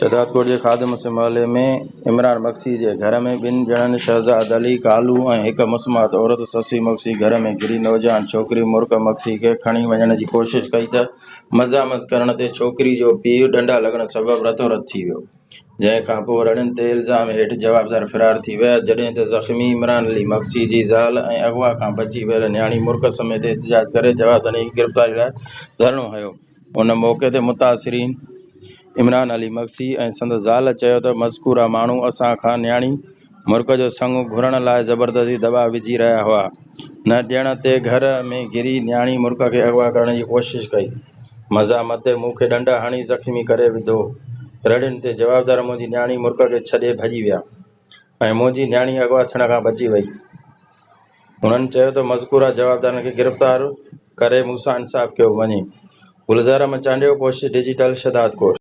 شهدادڪوٽ جي خادم حسين محلي ۾ عمران مگسي جي گهر ۾ ٻن ڄڻن شهزاد علي ڪالو ۽ هڪ مسمات عورت سسي مگسي گهر ۾ گهري نوجوان ڇوڪري مرڪ مگسي کي کڻي وڃڻ جي ڪوشش ڪئي ته مزاحمت ڪرڻ تي ڇوڪري جو پيء ڏنڊا لڳڻ سبب رتو رت ٿي ويو، جنهن کان پوء رڙين تي الزام هيٺ جوابدار فرار ٿي ويا، جڏهن ته زخمي عمران علي مگسي جي زال ۽ اغوا کان بچي ويل نياڻي مرڪ سميت احتجاج ڪري جوابدارن جي گرفتاري لاء ڌرڻو هنيو. ان موقعي تي متاثرين عمران علي مگسي ۽ سندس زال چيو ته مذڪوره ماڻهو اسان کان نياڻي، مرڪ جو سڱ گهرڻ لاء زبردستي دٻاء وجهي رهيا هئا. نه ڏيڻ تي گهر ۾ گهري نياڻي مرڪ کي اغوا ڪرڻ جي ڪوشش ڪئي. مزا متي مون کي ڏنڊ هڻي زخمي ڪري وڌو. رڙين تي جوابدار منهنجي نياڻي مرڪ کي ڇڏي ڀڄي ويا ۽ منهنجي نياڻي اغوا ٿيڻ کان بچي وئي. هنن چيو ته مذڪوره جوابدارن کي گرفتار ڪري مون سان انصاف ڪيو وڃي. گلزار احمد چانڊيو، ڪوشش ڊجيٽل، شهدادڪوٽ.